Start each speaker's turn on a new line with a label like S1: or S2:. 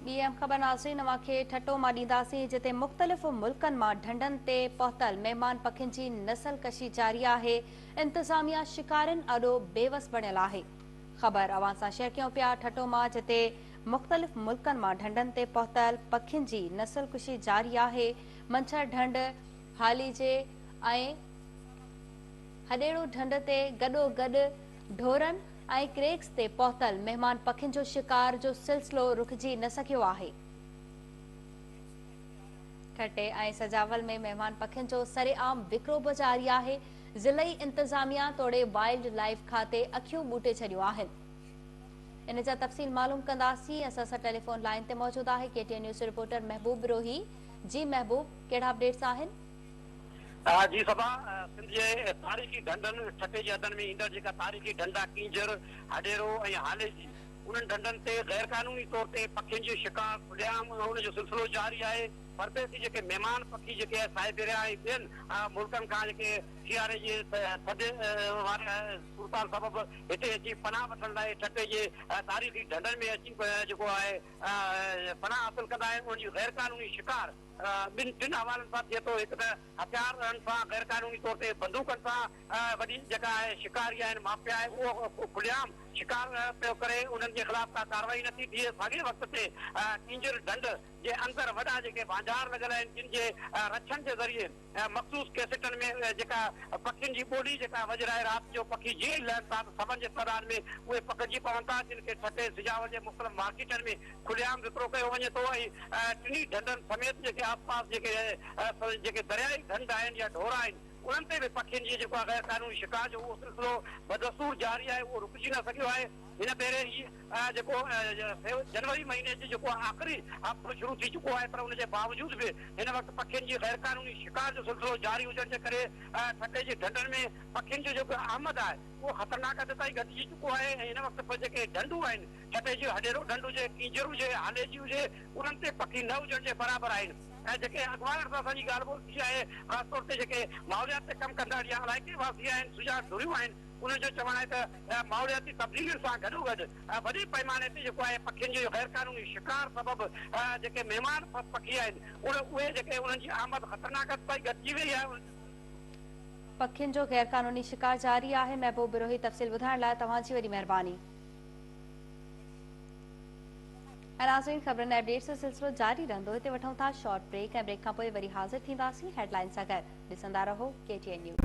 S1: ٻي اهم خبر ناظرين اوهان کي ٺٽو مان ڏينداسين جتي مختلف ملڪن مان ڍنڍن تي پهتل مهمان پکين جي نسل ڪشي جاري آهي انتظاميا شڪارين آڏو بيوس بڻيل آهي خبر اوهان سان شيئر ڪيون پيا ٺٽو مان جتي مختلف ملڪن مان ڍنڍن تي پهتل پکين جي نسل ڪشي جاري آهي منڇر ڍنڍ هاليجي ۽ هڏيڙو ڍنڍ تي گڏو گڏ ڍورن ۽ ڪريڪس تي پهتل مهمان پکين جو شڪار جو سلسلو رڪجي نه سگهيو آهي. ٺٽي ۽ سجاول ۾ مهمان پکين جو سرعام وڪرو به جاري آهي، ضلعي انتظاميا توڙي وائلڊ لائيف کاتي اکيون ٻوٽي ڇڏيون آهن. ان جا تفصيل معلوم ڪنداسين، اسان سان ٽيليفون لائين تي موجود آهي ڪي ٽي اين نيوز جو رپورٽر محبوب روهي، جي محبوب ڪهڙا اپڊيٽس آهن؟
S2: جي صبا، سنڌ جي تاريخي ڍنڍن، ٺٽي جي حدن ۾ ايندڙ جيڪا تاريخي ڍنڍا ڪينجھر، ھڏيرو ۽ ھالي جي، انھن ڍنڍن تي غير قانوني طور تي پکين جي شڪار کلي عام ان جو سلسلو جاري آھي، پرديسي جيڪي مھمان پکي جيڪي سائبيريا ۽ ٻين ملڪن کان جيڪي سياري جي ٿڌ واري صورتحال سبب ھتي اچي پناھ وٺڻ لاء ٺٽي جي تاريخي ڍنڍن ۾ اچي جيڪو آھي پناھ حاصل ڪندا آھن انھن جي غير قانوني شڪار ٻن ٽن حوالن سان ٿئي ٿو، هڪ ته هٿيار رهن سان غيرقانوني طور تي بندوقن سان وڏي جيڪا آهي شڪاري آهن مافيا آهي اهو کلي عام شڪار پيو ڪري انهن جي خلاف ڪا ڪارروائي نه ٿي ٿئي ساڳئي وقت تي ڪينجهر ڍنڍ جي اندر وڏا جيڪي ڀانجار لڳل آهن جن جي رڇن جي ذريعي مخصوص ڪيسٽن ۾ جيڪا پکين جي ٻولي جيڪا وڄرائي رات جو پکي جيئن ئي لهن ٿا ته سمن جي سڏان ۾ اهي پکڙجي پون ٿا جن کي ٺٽي سجاول جي مختلف مارڪيٽن ۾ کلي عام وڪرو ڪيو وڃي ٿو ۽ ٽنهي ڍنڍن سميت جيڪي آس پاس جيڪي جيڪي درياهي ڍنڍ آهن يا ڍورا آهن انهن تي به پکين جي جيڪو آهي غيرقانوني شڪار جو اهو سلسلو بدستور جاري آهي اهو رڪجي نه سگهيو آهي. هن ڀيري هي جيڪو جنوري مهيني جو جيڪو آخري هفتو شروع ٿي چڪو آهي پر ان جي باوجود به هن وقت پکين جي غيرقانوني شڪار جو سلسلو جاري هجڻ جي ڪري ٺٽي جي ڍنڍن ۾ پکين جو جيڪو آمد آهي اهو خطرناڪ حد تائين گهٽجي چڪو آهي ۽ هن وقت به جيڪي ڍنڍون آهن ٺٽي جي هڏيرو ڍنڍ هجي ڪينجهر هجي هاليجي هجي انهن تي پکي نه هجڻ جي برابر آهن ۽ جيڪي اڳواڻن سان اسان جي ڳالهه ٻولهه ٿي آهي خاص طور تي جيڪي ماحوليات تي ڪم ڪندڙ يا علائقي واسي آهن سجا ڌريون آهن انهن جو چوڻ آهي ته ماحولياتي تبديلين سان گڏوگڏ وڏي پئماني تي جيڪو آهي پکين جي غيرقانوني شڪار سبب جيڪي مهمان پکي آهن اهي جيڪي انهن جي آمد خطرناڪ حد تائين گهٽجي وئي
S1: آهي. پکين جو غيرقانوني شڪار جاري آهي محبوب بروهي تفصيل ٻڌائڻ لاء توهان جي وڏي مهرباني. ۽ ناظرين خبرن ۽ اپڊيٽس جو سلسلو جاري رهندو هتي وٺون ٿا شارٽ بريڪ ۽ بريڪ کانپوء وري حاضر ٿينداسين هيڊلائين سان گڏ ڏسندا رهو ڪي ٽي اين نيوز.